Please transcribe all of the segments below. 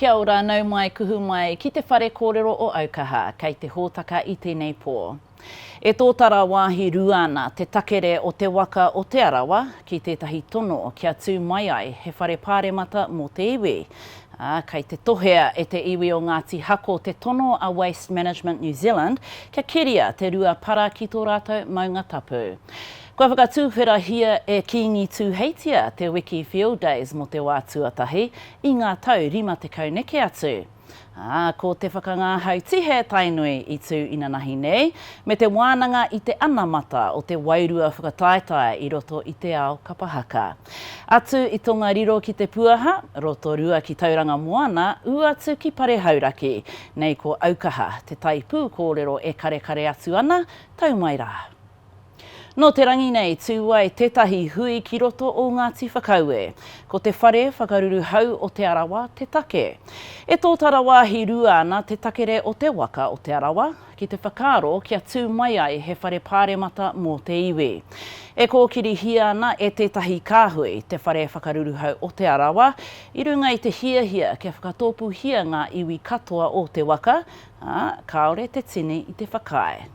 Kia ora, nau mai, kuhu mai ki te whare kōrero o Aukaha, kei te hōtaka i tēnei pō. E tōtara wāhi rua ana te takere o Te Waka o Te Arawa ki tētahi tono kia tū mai ai he whare pāremata mō te iwi. ā, kei te tohea e te iwi o Ngāti Hako te tono a Waste Management New Zealand kia keria te rua para ki tō rātou maunga tapu. Kua whakatūwherahia e Kīngi Tūheitia te wiki Field Days mō te wā tuatahi i ngā tau 50 neke atu, ā, ko te whakangāhau tihe Tainui i tū inanahi nei, me te wānanga i te anamata o te wairua whakataetae i roto i te ao kapa haka. Atu i Tongariro ki Te Puaha, Rotorua ki Tauranga Moana, ū atu ki Parehauraki. Nei ko Aukaha, te taipū kōrero e karekare atu ana, tau mai rā. Nō te rangi nei tū ai tētahi hui ki roto o Ngāti Whakaue. Ko te whare whakaruru hau o Te Arawa te take. E tōtara wāhi rua ana te takere o te waka o Te Arawa, ki te whakaaro kia tū mai ai he whare pāremata mō te iwi. E kōkirihia ana e tētahi kāhui te whare whakaruruhau o Te Arawa i runga i te hiahia kia whakatōpūhia ngā iwi katoa o te waka, ā, kāore te tini i te whakaae.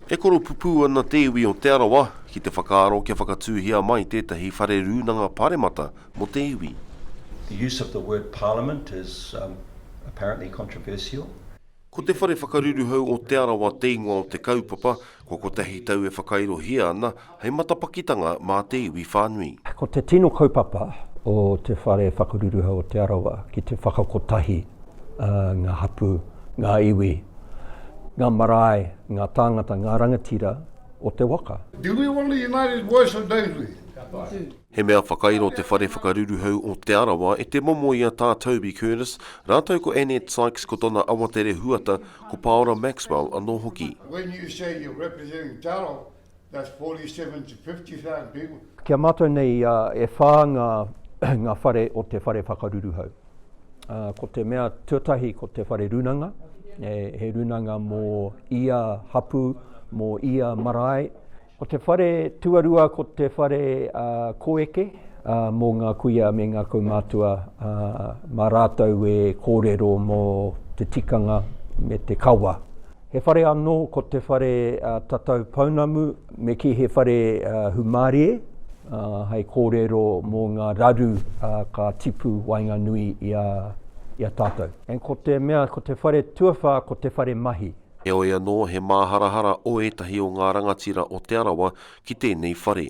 E koropupū ana te iwi o Te Arawa ki te whakaaro kia whakatūhia mai tētahi whare rūnanga paremata mō te iwi. The use of the word parliament is apparently controversial. Ko te whare whakaruruhau o Te Arawa te ingoa o te kaupapa, kua kotahi tau e whakairohia ana, hei matapakitanga mā te iwi whānui. Ko te tino kaupapa o Te Whare Whakaruruhau o Te Arawa ki te whakakotahi ngā hapū, ngā iwi, ngā marae, ngā tāngata, ngā rangatira o te waka. Do we want a united voice or don't we? He mea whakairo Te Whare Whakaruruhau o Te Arawa e te momo i a Tā Toby Curtis rātou ko Annette Sykes ko tona awatere huata ko Paora Maxwell anō hoki. That's 47 to 50,000 people. Ki a mātou nei, e whā ngā, ngā whare o te whare whakaruruhau. Ko te mea tuatahi ko te whare runanga, he runanga mō ia hapu, mō ia marae. Ko te whare tuarua ko te whare koeke mō ngā kuia me ngā kaumātua mā rātou e kōrero mō te tikanga me te kawa. He whare anō ko te whare tatau pounamu me kī he whare humārie hei kōrero mō ngā raru ka tipu waenganui i a tātou. And ko te mea ko te whare tuawhā ko te whare mahi. Heoi anō he māharahara o ētahi o ngā rangatira o Te Arawa ki tēnei whare.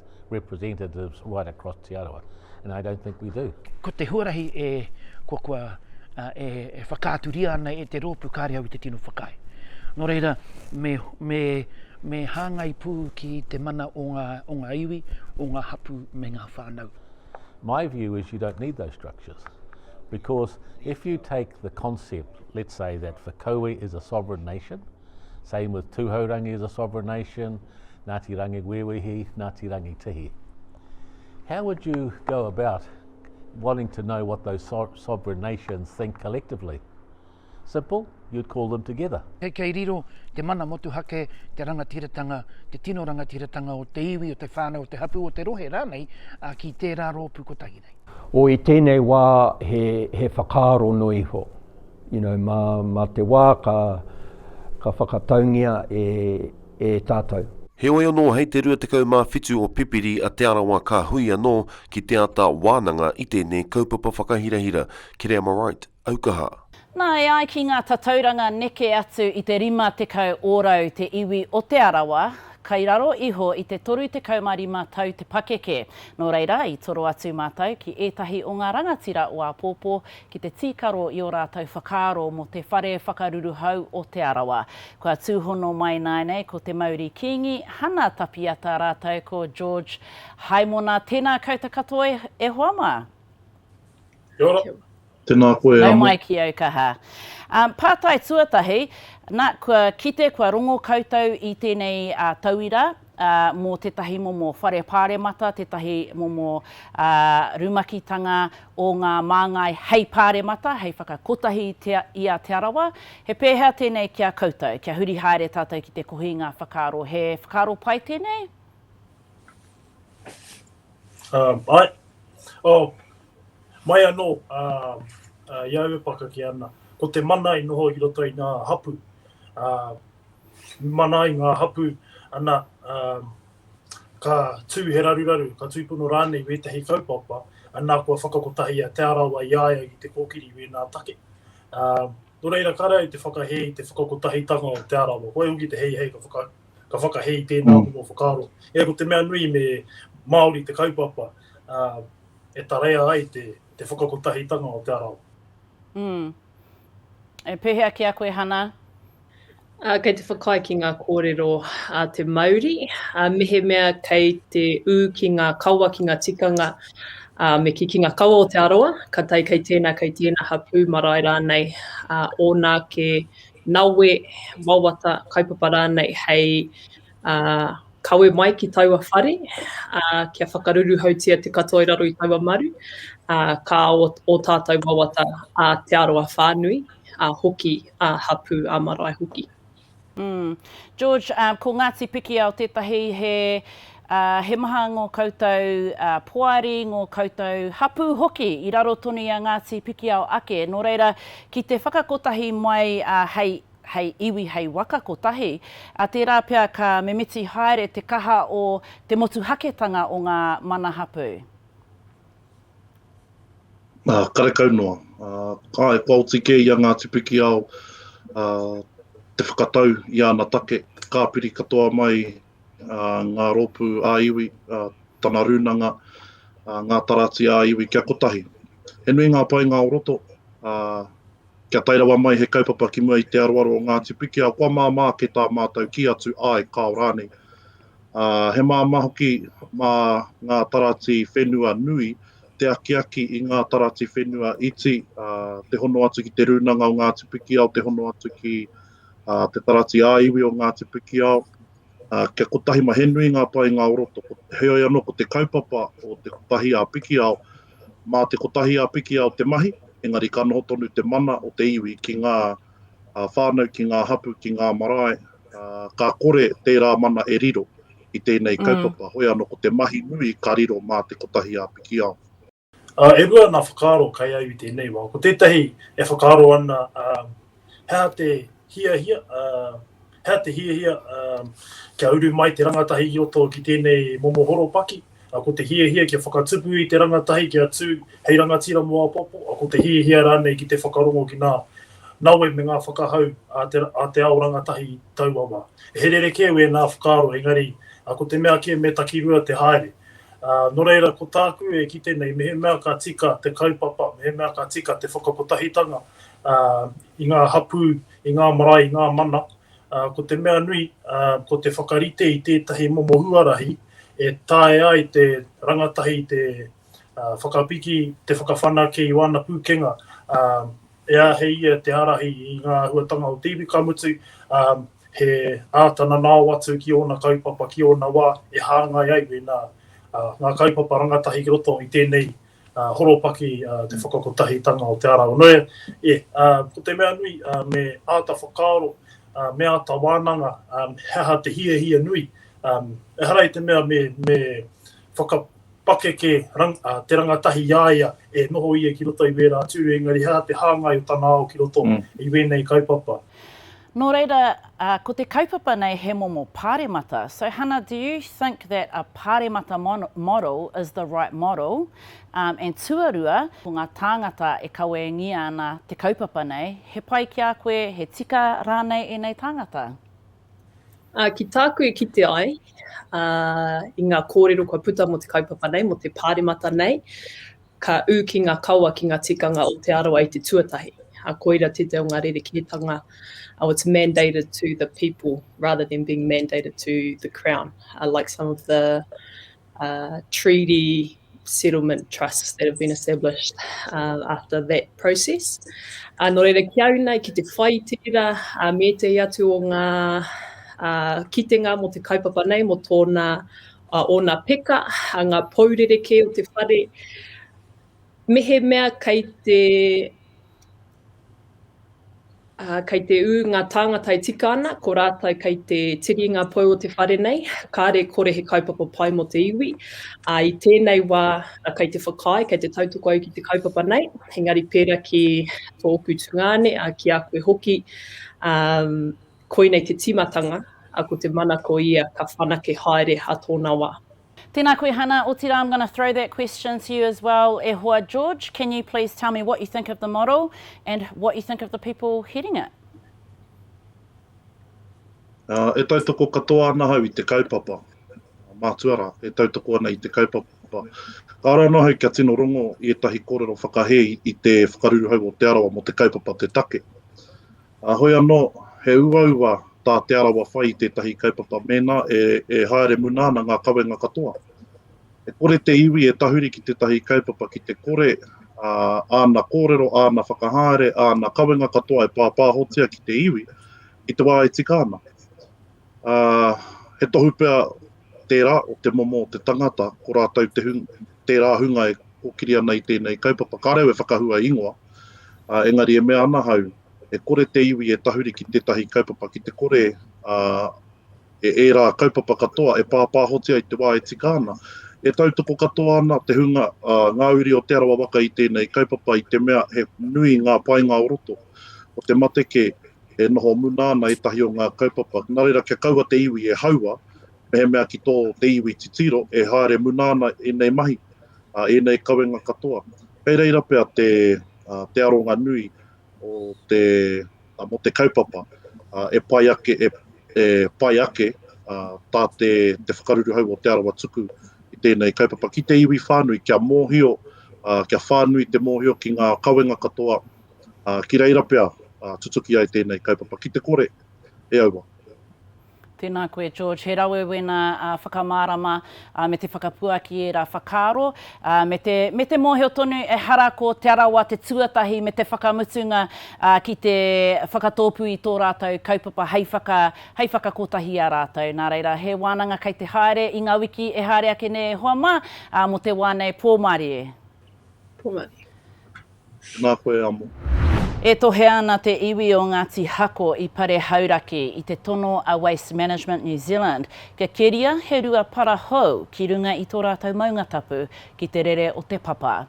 representatives right across Te Arawa, and I don't think we do. Ko te huarahi e, ko kua, e, e whakaaturia ana e te rōpu kāre au i te tino whakaae. Nō reira, me, me, me hāngai pū ki te mana o ngā, o ngā iwi, o ngā hapū me ngā whānau. My view is you don't need those structures. Because if you take the concept, let's say that Whakaue is a sovereign nation, same with Tuhourangi is a sovereign nation, Ngāti Rangiwewehi, Ngāti Rangitihi. How would you go about wanting to know what those so sovereign nations think collectively? Simple, you'd call them together. Kei, kei riro te mana motuhake, te rangatiratanga, te tino rangatiratanga o te iwi, o te whānau, o te hapū, o te rohe rānei, ā, ki tērā rōpū kotahi nei. O i tēnei wā he, he whakaaro noa iho. You know, mā, mā te wā ka, ka whakataungia e, e tātou. Heoi anō hei te 27 o Pipiri a Te Arawa ka hui anō ki te ata wānanga i tēnei kaupapa whakahirahira, Kereamarite, Aukaha. Nā, e ai ki ngā tatauranga neke atu i te 50 ōrau te iwi o Te Arawa, kai raro iho i te 35 tau te pakeke. Nō reira, i toro atu mātou ki ētahi o ngā rangatira o āpōpō ki te tīkaro i ō rātou whakaaro mō te whare whakaruruhau o Te Arawa. Kua tūhono mai nāinei ko te mauri Kīngi Hana Tapiata rātou ko George Haimona. Tēnā kouta katoa e hoa mā. Kia ora. Tēnā koe Nau mai ki au kaha. Pātai tuatahi, nā, kua kite, kua rongo koutou i tēnei tauira, mō tētahi momo whare pāremata, tētahi momo rumakitanga o ngā māngai hei pāremata, hei whakakotahi i a Te Arawa. He pēhea tēnei ki a koutou? Kia huri haere tātou ki te kohinga whakaaro. He whakaaro pai tēnei? Āe. Mai anō i au e pakake ana, ko te mana i noho i roto i ngā hapū, mana ai ngā hapū, ana, ā, ka tū he raruraru, ka tūpono rānei wētahi kaupapa, ana, kua whakakotahia Te Arawa i a ia ki te kōkiri i wēnā take. Ā, nō reira, kāre au te whakahē i te whakakotahitanga o Te Arawa. Ko au hoki te heihei ka whaka, ka whakahē i tēnā momo whakaaro. Ea, ko te mea nui me Māori te kaupapa, ā, e tarea ai te, te whakakotahitanga o Te Arawa. Ū. E pēhea ki a koe, Hana? Kei te whakaae ki ngā kōrero a te mauri, mehemea kei te ū ki ngā kawa, ki ngā tikanga, me kī, ki ngā kawa o Te Arawa, ka tae kei tēnā, kei tēnā hapū, marae rānei, ōna ake nawe, wawata, kaupapa rānei hei Ā, kawe mai ki taua whare, ā, kia whakaruruhautia te katoa i raro i taua maru, ā, ka ao ō tātou wawata, ā, te aro a whānui, ā, hoki ā hapū, ā marae hoki. Mm. George, um, ko Ngāti Pikiao tētahi he, uh, he maha ngō koutou uh, poari, ngō koutou hapū hoki i raro tonu i a Ngāti Pikiao ake. Nō reira, ki te whakakotahi mai uh, hei hei iwi, hei waka kotahi, ā, tērā pea ka mimiti haere te kaha o te motuhaketanga o ngā mana hapū. Ā, karekau noa. Ā, āe, kua oti kē i a Ngāti Pikiao te whakatau i āna take, ka piri katoa mai ngā rōpū ā-iwi, tana rūnanga, ngā tarati ā-iwi kia kotahi. He nui ngā painga o roto, ā, Kia tae rawa mai he kaupapa ki mua i te aroaro o Ngāti Pikiao, kua māmā ake tā mātou kī atu āe kāo rānei. Ā, he māmā hoki mā ngā taratī whenua nui te akiaki i ngā taratī whenua iti, ā, te hono atu ki Te Rūnanga o Ngāti Pikiao, te hono atu ki te taratī ā-iwi o Ngāti Pikiao. Ā, kia kotahi mā, he nui ngā painga o roto. Heoi anō, ko te kaupapa o te Kotahi ā Pikiao, Mā te kotahi a Pikia o te mahi, engari ka noho tonu te mana o te iwi ki ngā whānau, ki ngā hapū, ki ngā marae, ā, ka kore tērā mana e riro i tēnei kaupapa, hoi anō ko te mahi nui ka riro mā te kotahi a Pikiao. Ā, e rua ngā whakaaro kai au i tēnei wā. Ko tētahi e whakaaro ana, ā, he aha te hiahia, ā, Hea te hiahia kia uru mai te rangatahi i roto ki tēnei momo horopaki? Ko te hiahia kia whakatupu i te rangatahi kia tū hei rangatira mō apopo? Ko te hiahia rānei ki te whakarongo ki ngā nawe me ngā whakahau a te ao rangatahi taua wā? He rerekē wēnā whakaaro engari ko te mea kē me takirua te haere. Nō reira ko tāku e kite nei mehemea ka tika te kaupapa, mehemea ka tika te whakakotahitanga i ngā hapū, i ngā marae, i ngā mana, ko te mea nui, ko te whakarite i tētahi momo huarahi e taea ai te rangatahi te whakapiki, te whakawhanake i wāna pūkenga, e āhei ia te ārahi i ngā āhuatanga o te iwi, ka mutu, he āta nanao atu ki ōna kaupapa, ki ōna wā e hāngai ai wēnā ngā kaupapa rangatahi ki roto i tēnei horopaki te whakakotahitanga o Te Ara o Noia. E, ko te mea nui, me āta whakaaro, me āta wānanga he aha te hiahia nui. Ehara i te mea me whakapakeke te rangatahi i a ia e noho ia ki roto i wērā tūru, engari he aha te hāngai o tana ao ki roto i wēnei kaupapa. Nō reira, ko te kaupapa nei he momo pāremata. So Hana, do you think that a pāremata model is the right model? And tuarua, ko ngā tāngata e kawengia ana te kaupapa nei, he pai ki a koe, he tika rānei ēnei tāngata? Ki tāku e kite ai, i ngā kōrero kua puta mō te kaupapa nei, mō te pāremata nei, Ka ū ki ngā kawa ki ngā tikanga o Te Arawa i te tuatahi, ā, koira tētahi o ngā rerekētanga, oh, it's mandated to the people rather than being mandated to the Crown, like some of the treaty settlement trusts that have been established after that process. Nō reira, ki au nei, ki te whai i tērā, me ētahi atu o ngā kitenga mō te kaupapa nei, mō tōna a ōna peka, a ngā pou rerekē o te whare, mehemea kei te, ā, kei te ū ngā tāngata e tika ana, ko rātou kei te tiri ngā pou o te whare nei, kāre kore he kaupapa pai mō te iwi, ā, i tēnei wā, a, kei te whakaae, kei te tautoko au ki te kaupapa nei, engari pērā ki tōku tungāne, ā, ki a koe hoki, ā, Koinei te timatanga, a ko te mana ko ia ka whanake haere ha tona wa. Tēnā koe Hana, otirā I'm gonna throw that question to you as well e hoa George, can you please tell me what you think of the model and what you think of the people heading it? E tautoko katoa ana ahau i te kaupapa, mātua rā, e tautoko ana i te kaupapa. Kāore anō ahau kia tino rongo i ētahi kōrero whakahē i te whakaruruhau o Te Arawa mō te kaupapa te take. Ā, hoi anō, he uaua tā Te Arawa whai i tētahi kaupapa mēnā e haere muna ana ngā kawenga katoa. E kore te iwi e tahuri ki tētahi kaupapa ki te kore āna kōrero, āna whakahaere, āna kawenga katoa e pāpāhotia ki te iwi i te wā e tika ana. Uh, he tohu pea tērā o te momo o te tangata, ko rātou te hung, tērā hunga e kōkiri ana i tēnei kaupapa. Ka reo e whakahua ingoa, uh, engari e mea ana hau, e kore te iwi e tahuri ki tētahi kaupapa, ki te kore uh, e ērā kaupapa katoa e pāpāhotia i te wā e tika ana. E tautoko katoa ana te hunga uh, ngā uri o Te Arawa Waka i tēnei kaupapa i te mea he nui ngā painga o roto. O te mateke, e noho muna ana ētahi o ngā kaupapa. Nā reira, kia kaua te iwi e haua, mehemea ki tō te iwi titiro e haere muna ana ēnei mahi, ēnei kawenga katoa. Kei reira pea te aronga nui o te, mō te kaupapa e pai ake, e pai ake tā te whakaruruhau o Te Arawa tuku i tēnei kaupapa ki te iwi whānui, kia mōhio, kia whānui te mōhio ki ngā kawenga katoa, ā, ki reira pea tutuki ai tēnei kaupapa ki te kore e aua. Tēnā koe George, he rawe wēnā whakamārama me te whakapuaki i ērā whakaaro me te mōhio tonu ehara ko Te Arawa te tuatahi me te whakamutunga ki te whakatōpū i tō rātou kaupapa hei whakakotahi i a rātou. Nā reira, he wānanga kei te haere i ngā wiki e haere ake nei e hoa mā mō te wā nei, pōmarie. Pōmarie. Nā koe amo. E tohea ana te iwi o Ngāti Hako i Pare Hauraki i te tono a Waste Management New Zealand kia keria he rua para hou ki runga i tō rātou maunga tapu ki te rere o Te Papa.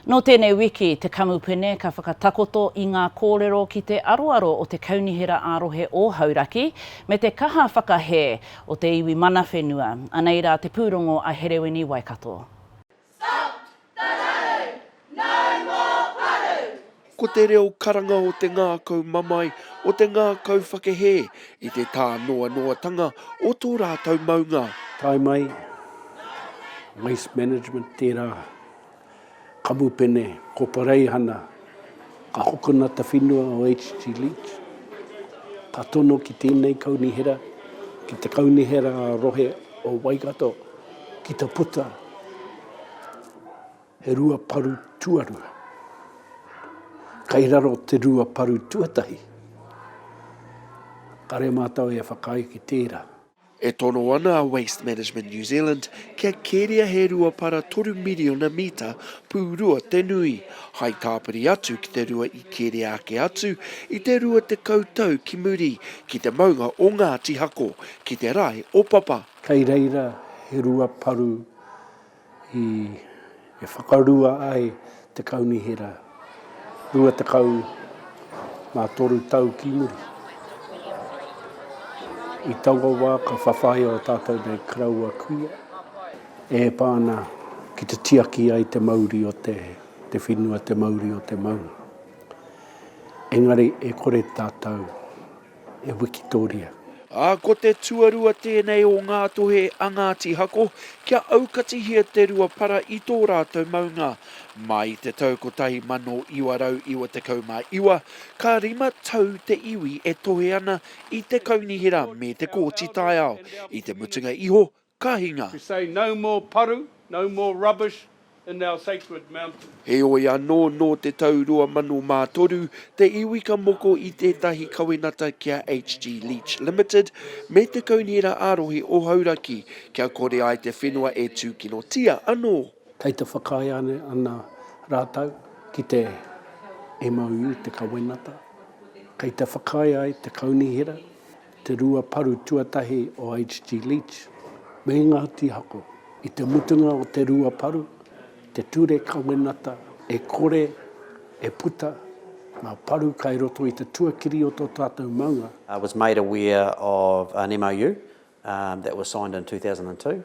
Nō tēnei wiki, te kamupene ka whakatakoto i ngā kōrero ki te aroaro o te Kaunihera ā-Rohe o Hauraki me te kaha whakahē o te iwi mana whenua. Anei rā te pūrongo a Herewini Waikato. Stop! Parau! No more paru! Ko te reo karanga o te ngākau mamae, o te ngākau whakehē i te tānoanoatanga o tō rātou maunga. Tae mai, Waste Management, tērā kamupene ko Pareihana Ka hokona te whenua o HG Leach, ka tono ki tēnei kaunihera, ki te kaunihera rohe o Waikato, ki te puta he rua paru tuarua. Kai raro te rua paru tuatahi, kare mātou e whakaae ki tērā. E tono ana a Waste Management New Zealand kia keria he rua para toru miriona mita pūrua te nui, hai tāpiri atu ki te rua i keria ake atu i te rua tekau tau ki muri, ki te maunga o Ngāti Hako, ki te rae o Papa. Kei reira he rua paru i e whakarua ai te Kaunihera rua tekau mā toru tau ki muri. I taua wā ka whawhai o tātou nei karaua kuia e pā ana ki te tiaki ai te mauri o te te whenua, te mauri o te maunga. Engari e kore tātou. e Wikitoria. Ā, ko te tuarua tēnei o ngā tohe a Ngāti Hako kia aukatihia te rua para i tō rātou maunga. Mā i te tau 1999, ka rima tau te iwi e tohe ana i te kaunihera me te kōti taiao, i te mutunga iho Ka hinga. To say no more paru, no more rubbish in our sacred mountains. Heoi anō, nō te tau 2003, te iwi ka moko i tētahi kawenata ki a HG Leach Limited me te Kaunihera ā-Rohe o Hauraki kia kore ai te whenua e tūkinotia anō. Kei te whakaae ana rātou ki te MOU, te kawenata, kei te whakaae ai te Kaunihera Te rua paru tuatahi o HG Leach me ngā tīhako. I te mutunga o te rua paru, te ture kawenata e kore e puta ngā paru kai roto i te tuakiri o tō tātou maunga. was made aware of an MOU that was signed in 2002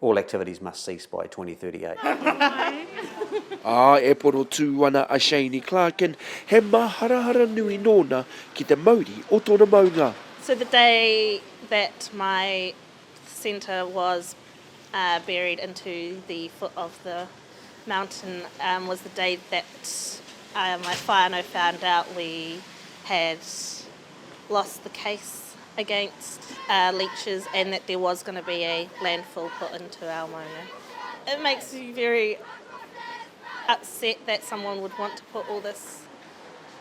All activities must cease by 2038. Ā, e porotū ana a Shaney Clarkin, he māharahara nui nōna ki te mauri o tōna maunga. So the day that my centre was buried into the foot of the mountain was the day that my whānau found out we had lost the case against leeches and that there was going to be a landfill put into our maunga. It makes me very upset that someone would want to put all this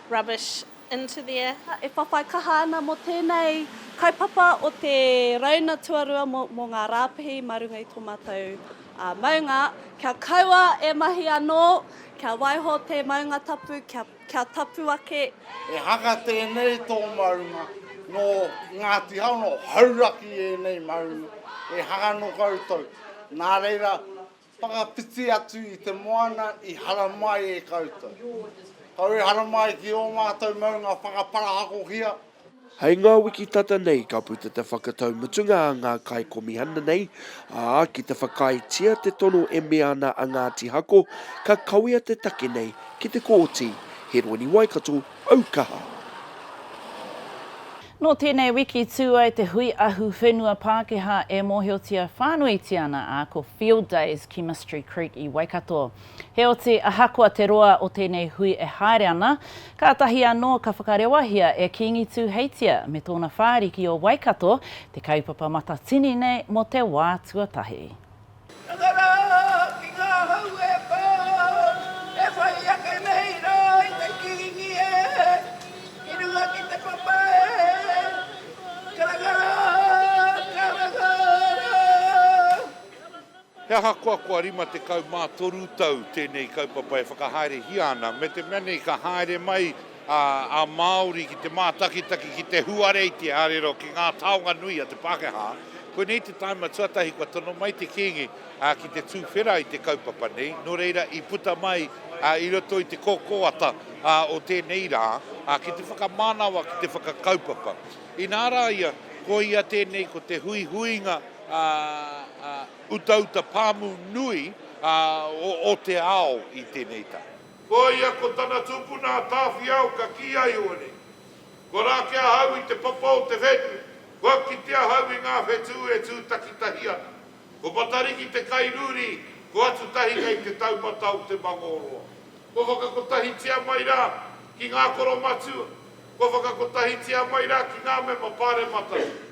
rubbish into there. E whawhai kaha ana mo tenei kaupapa o te rauna tuarua mo nga rapihi ma runga i to matou maunga kia kaua e mahi ano kia waiho te maunga tapu kia Kia tapu ake. He haka tēnei tō maunga, nō Ngāti Hau, nō Hauraki ēnei maunga, he haka nō koutou. Nā reira, whakawhiti atu i te moana i haramai e koutou. Kau e haramai ki ō mātou maunga whakaparahakohia. Hei ngā wiki tata nei ka puta te whakatau mutunga a ngā kaikomihana nei, ā, ki te whakaaetia te tono e mea ana a Ngāti Hako ka kawea te take nei ki te Kōti. Heroini Waikato, Aukaha. Nō tēnei wiki tū ai te hui ahu whenua Pākehā e mōhiotia whānuitia ana a ko Field Days ki Mystery Creek i Waikato. Heoti, ahakoa te roa o tēnei hui e haere ana, kātahi anō ka whakarewahia e Kīngi Tūheitia me tōna whāriki o Waikato te kaupapa matatini nei mō te wā tuatahi. Taka rā ki ngā hau e pā, e whai ake nei rā i te Kīngi e, ki runga ki te papa e, karanga rā, karanga rā. He ahakoa kua 53 tau tēnei kaupapa e whakahaerehia ana, me te mea nei ka haere mai a Māori ki te mātakitaki, ki te huareitia arero ki ngā taonga nui a te Pākehā, koinei te tāima tuatahi kua tono mai te Kīngi ki te tūwhera i te kaupapa nei, nō reira i puta mai i roto i te kōkōata o tēnei rā ki te whakamānawa, ki te whakakaupapa. Inā rā ia, ko ia tēnei ko te huihuinga. utauta pāmu nui o te ao i tēnei tau. Ko ia ko tana tupuna a Tāwhiao ka kī ai hoere, Kua rā ki ahau i te papa o te whenu, kua kite ahau i ngā whetū e tū takitahi ana. Ko Matariki te kairūri, ko Atutahi kei te taumata o te mangōroa. Kua whakakotahitia mai rā ki ngā koromatua, kua whakakotahitia mai rā ki ngā mema pāremata.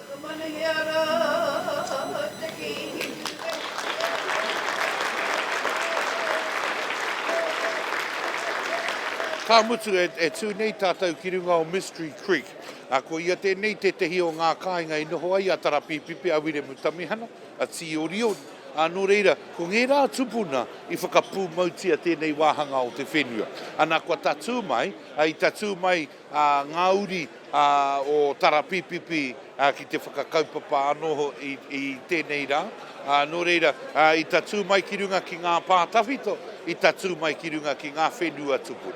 Ka manahia ra te kihi Ka mutu e tū nei tātou ki runga o Mystery Creek. Ko ia tēnei tētehi o ngā kāinga i noho ai a Tarapīpipi, a Wiremu Tamihana, a Tīorio, ā, nō reira, ko ngērā tupuna i whakapūmautia tēnei wāhanga o te whenua. Ana kua tatū mai, i tatū mai, ngā uri o Tarapīpipi ki te whakakaupapa anō hoki i tēnei rā. Nō reira, i tatū mai ki runga ki ngā pā tawhito, i tatū mai ki runga ki ngā whenua tupuna.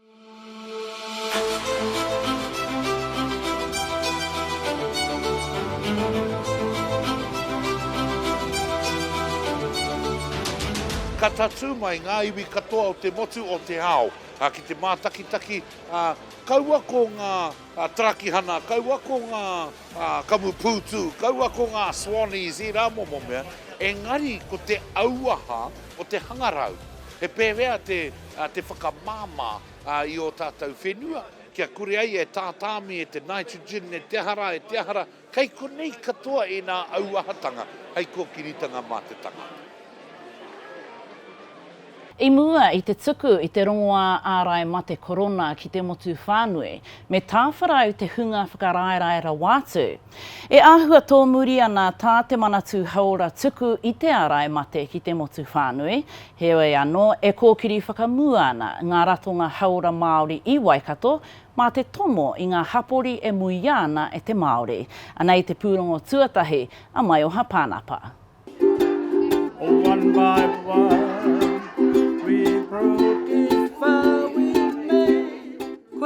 Ka tatū mai ngā iwi katoa o te motu o te ao ki te mātakitaki, ā, kaua ko ngā tarakihana, kaua ko ngā kamupūtū, kaua ko ngā Swannies, ērā momo mea, engari ko te auaha o te hangarau. He pērea te te whakamāmā i ō tātou whenua, kia kore ai e tātāmi e te nitrogen, e te aha rā, e te aha rā, kei konei katoa ēnā auahatanga hei kōkiritanga mā te tangata. I mua i te tuku i te rongoā ārai mate korona ki te motu whānui, me tāwharau te hunga whakaraerae rawa atu. E āhua tōmuri ana tā te Manatū Hauora tuku i te ārai mate ki te motu whānui, heoi anō e kōkiri whakamua ana ngā ratonga hauora Māori i Waikato mā te tomo i ngā hapori e muia ana e te Māori. Anei te pūrongo tuatahi a Maioha Pānapa.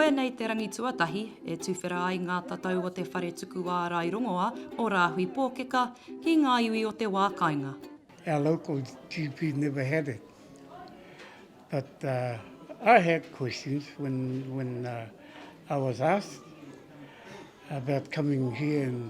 Koinei te rangi tuatahi e tuwhera ai ngā tatau o te whare tuku ārai rongoā o Rāhui Pōkeka ki ngā iwi o te wā kāinga. Our local GP never had it but I had questions when when I was asked about coming here and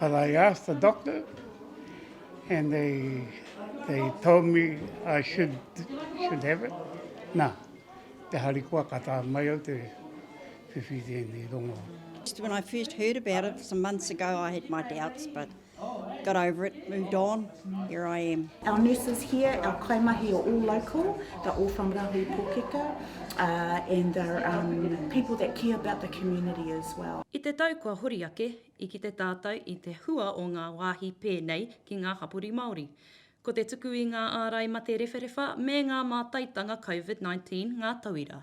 But I asked the doctor and they they told me I should should have it. Nā, te harikoa ka tā mai au te whiwhi tēnei rongo. Just when I first heard about it some months ago I had my doubts but got over it, moved on. Here I am. Our nurses here, our kaimahi are all local, they're all from Rahui Pōkeka, uh, and they're um, people that care about the community as well. I te tau kua hori ake, i kite tātou i te hua o ngā wāhi pēnei ki ngā hapori Māori. Ko te tuku i ngā ārai mate rewharewha me ngā mātaitanga COVID-19 ngā tauira.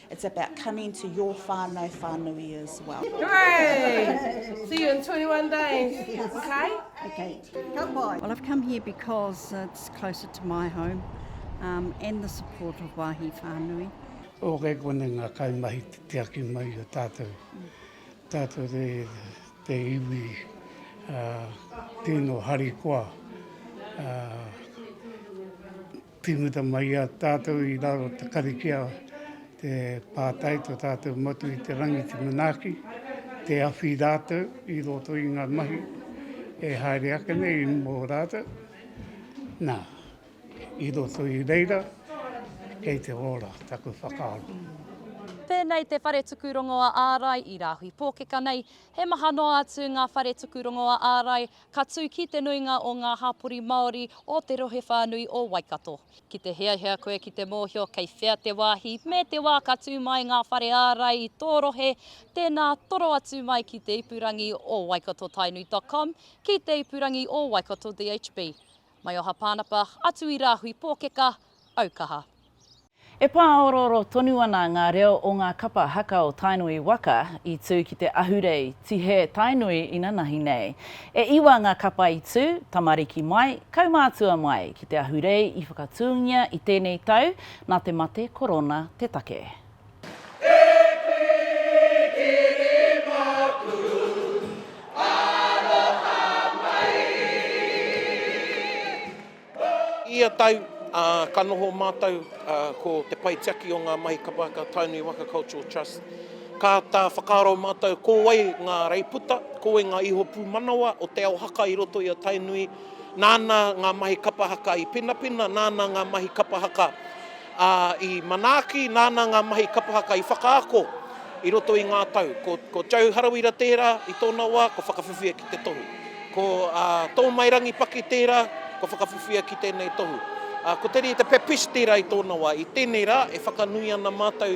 It's about coming to your whānau whānui as well. Hooray! See you in 21 days, okay? Okay, come by. Well, I've come here because it's closer to my home um, and the support of Wahi Whānui. O kei kone ngā kaimahi te tiaki mai o tātou. Tātou te, te iwi uh, tino harikoa. Uh, Tīmata mai i a tātou i raro te karikia te pātai to tātou motu i te rangi te manaaki, te awhi rātou i roto i ngā mahi e haere ake nei mō rātou. Nā, i roto i reira, kei te ora taku whakaaro. Pēnei te whare tuku rongoa ārai i Rāhui Pōkeka nei, he maha noa atu ngā whare tuku rongoa ārai Ka tū ki te nuinga o ngā hapori Māori o te rohe whānui o Waikato. Ki te hiahia koe ki te mōhio kei whea te wāhi me te wā ka tū mai ngā whare ārai i tō rohe, tēnā toro atu mai ki te ipurangi o waikatotainui.com, ki te ipurangi o Waikato DHB. Maioha Pānapa, atu i Rāhui Pōkeka, aukaha. E pāorooro tonu ana ngā reo o ngā kapa haka o Tainui waka i tū ki te ahurei Tihē Tainui inanahi nei. E iwa ngā kapa i tū, tamariki mai, kaumātua mai, ki te ahurei i whakatūngia i tēnei tau nā te mate korona te take. I ia tau, ka noho mātou ko te pae tiaki o ngā mahi kapa a Tainui Waka Cultural Trust. Ka āta whakaaro mātou ko wai ngā reiputa, ko wai ngā iho pūmanawa o te ao haka i roto i a Tainui, nāna ngā mahi kapa haka i pinapina, nāna ngā mahi kapa haka Ā, i manaaki, nāna ngā mahi kapa haka i whakaako i roto i ngā tau. Ko, ko Joe Harawira tērā, i tōna wā, kua whakawhiwhia ki te tohu. Ko, ā, Tōmairangi Paki tērā, kua whakawhiwhia ki tēnei tohu. Ā, ko Te Rita Pepisti rā i tōna wā. I tēnei rā, e whakanui ana mātou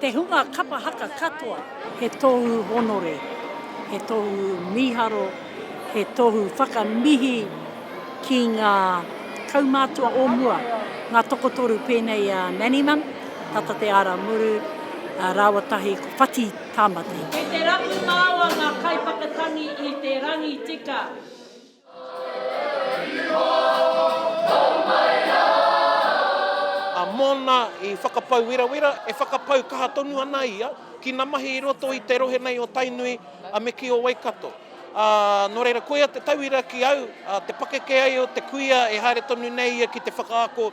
Te hunga kapa haka katoa. He tohu honore, he tohu miharo, he tohu whakamihi ki nga kaumatua o mua, nga tokotoru penei a Nannyman, tata te ara muru, rawa tahi ko Whati Tamati. Kei te rapu māua ngā kaiwhakatangi i te rangi tika. A mōna i whakapau werawera, e whakapau kaha tonu ana ia ki na mahi i roto i te rohe nei o Tainui a me ki o Waikato. A, no reira koia te tauira ki au, a, te pakeke ai o te kuia e haere tonu nei ia ki te whakaako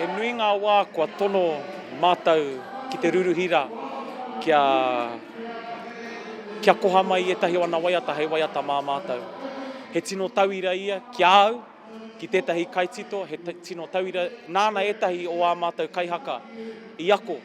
He nui ngā wā kua tono mātou ki te ruruhi rā kia kia koha mai i ētahi o ana waiata hei waiata mā mātou. He tino tauira ia ki a au, ki tētahi kaitito, he tino tauira, nāna ētahi o ā mātou kaihaka i ako.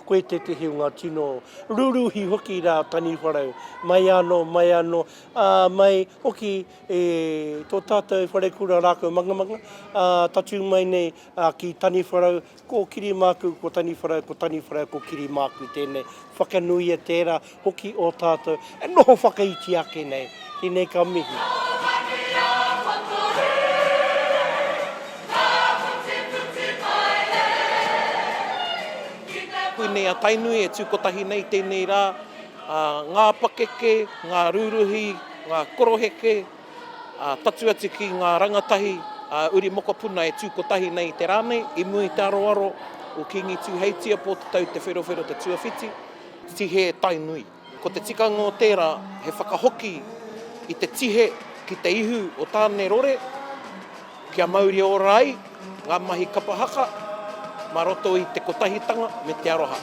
Koe tētahi o ngā tino ruruhi hoki rā Taniwharau, mai anō, mai anō, ā, mai hoki. E tō tātou wharekura rākau mangamanga, ā, tatū mai nei ki Taniwharau, kōkiri māku ko Taniwharau, ko Taniwharau ko kiri māku tēnei. Whakanuia tērā hoki ō tātou e noho whakaiti ake nei. Tēnei ka mihi. Koinei a Tainui e tū kotahi nei tēnei rā, ngā pakeke, ngā rūruhi, ngā koroheke, patu atu ki ngā rangatahi a uri mokopuna e tū kotahi nei i te rā nei, i mua i te aroaro o Kīngi Tūheitia, Pō Te Tau, Te Wherowhero, Te Tuawhiti. Tihe Tainui. Ko te tikanga o tērā, he whakahoki i te tihe ki te ihu o Tāne-rore. Kia mauri ora ai ngā mahi kapa haka mā roto i te kotahitanga me te aroha.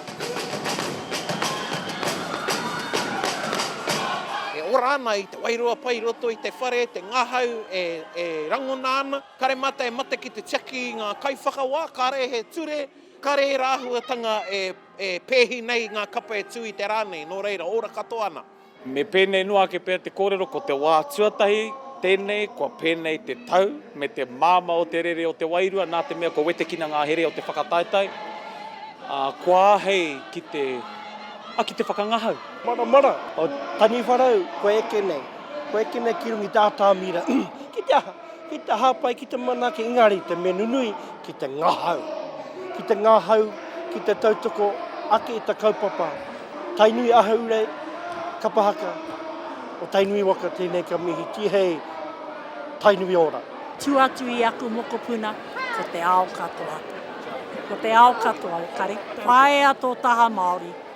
E ora ana i te wairua pai i roto i te whare, te ngahau e rangona ana. Kare mata e mate ki te tiaki i ngā kaiwhakawā, kare he ture, kare ērā āhuatanga e pēhi nei i ngā kapa e tū i te rā nei, nō reira, ora katoa ana. Me pēnei noa ake pea te kōrero ko te wā tuatahi tēnei kua pēnei te tau me te māmā o te rere o te wairua nā te mea kua wetekina ngā here o te whakataetae, ā, kua āhei ki te, ā, ki te whakangahau. Maramara o Taniwharau kua eke nei, kua eke nei ki runga i te atamira. Ki te aha? Ki te hāpai, ki te manaaki, engari te mea nunui, ki te ngahau. Ki te ngahau, ki te tautoko ake i ta kaupapa. Tainui Ahaurei, Kapa Haka, o Tainui waka, tēnei ka mihi, tihei, Tainui ora. Tua atu i aku mokopuna, ko te ao katoa. Ko te ao katoa o Kare. Paea tō taha Māori.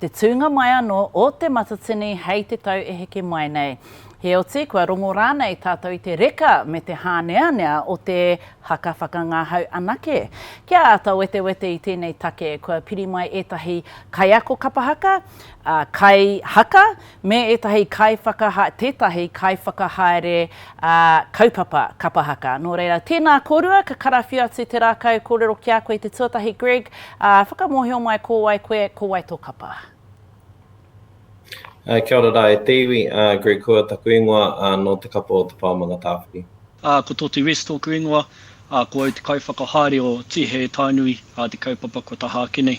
te tūnga mai anō o Te Matatini hei te tau e heke mai nei. Heoti, kua rongo rānei tātou i te reka me te hāneanea o te haka whakangahau anake? Kia āta wetewete i tēnei take, kua piri mai ētahi kaiako kapa haka, ā, kaihaka, Me ētahi kaiwhakaha, tētahi kaiwhakahaere ā, kaupapa kapa haka. Nō reira, tēnā kōrua, ka karawhiu atu te rākau kōrero ki a koe i te tuatahi, Greg, ā, whakamōhio mai ko wai koe, ko wai tō kapa. Kia ora rā e te iwi, ā, Greg Hua taku ingoa, ā, nō te kapa o Te Pao Mangatāwhiri. Ā, ko Toti West tōku ingoa, ā, ko au te kaiwhakahaere o Tīhee Tainui, ā, te kaupapa kua tahā ake nei.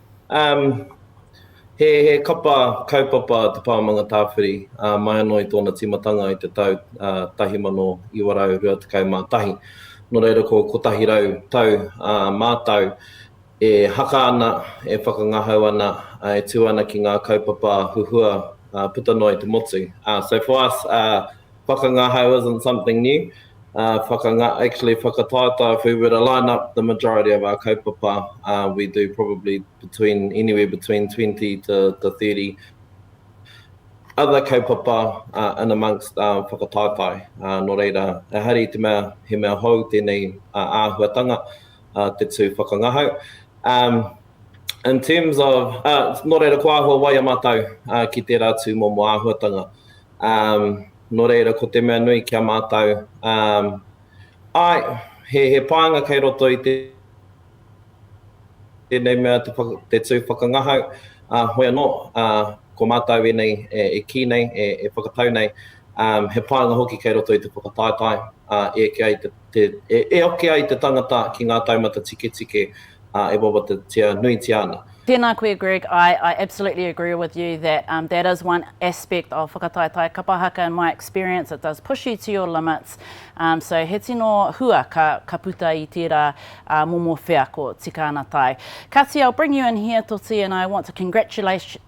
He kapa kaupapa Te Pao Manga Tāwhiri mai anō i tōna tīmatanga i te tau 1921. Nō reira ko 100 tau mātau e haka ana, e whakangahau ana, e tū ana ki ngā kaupapa huhua puta noa i te motu. So for us, Pakanga hau isn't something new, uh, whakanga, actually whakataetae, if we were to line up the majority of our kaupapa, uh, we do probably between anywhere between 20 to, to 30 other kaupapa uh, in amongst uh, whakataetae. Uh, no reira, e hari te mea, he mea hou tēnei uh, āhuatanga, uh, te tū whakangahau. Um, in terms of, uh, no reira, ko āhua wai a mātou uh, ki tērā tū momo āhuatanga. Um, nō reira, ko te mea nui ki a mātou. Um, ai, he, he pānga kei roto i te tēnei mea te, te tū whakangahau, a uh, hoi anō, a uh, ko mātou e nei, e, e kī nei, e, e whakatau nei, um, he pānga hoki kei roto i te whakataetae, a uh, e kia i te te, e, e oke ai te tangata ki ngā taumata tiketike, ā, e wawatatia nuitia ana. Tēnā koe Greg, I, I absolutely agree with you that um, that is one aspect of whakataetae kapa haka in my experience, it does push you to your limits, um, so he tino hua ka, ka puta i tērā uh, momo wheako tika ana tae. Kati, I'll bring you in here Toti and I want to congratulate,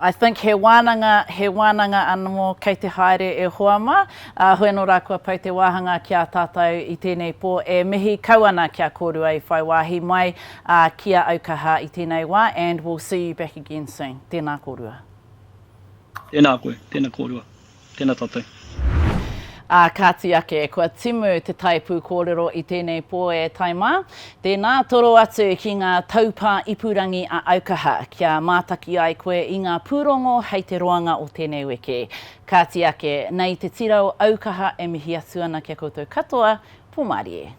I think he wānanga, he wānanga anamō kei te haere e hoa mā, ā, hoi anō rā kua pau te wāhanga ki a tātou i tēnei pō e mihi kau ana kia kōrua i whai wāhi mai, ā, ki a au ka hā i tēnei wā and we'll see you back again soon. Tēnā kōrua. Tēnā koe, tēnā kōrua. Tēnā tātou. Ā, kāti ake, kua timu te tae pūkōrero i tēnei pō e tae mā. Tēnā, toro atu ki ngā taupā ipurangi a Aukaha, kia mātaki ai koe i ngā pūrongo hei te roanga o tēnei wiki. Kāti ake, nei te tira o Aukaha e mihi atu ana ki a koutou katoa, Pōmārie.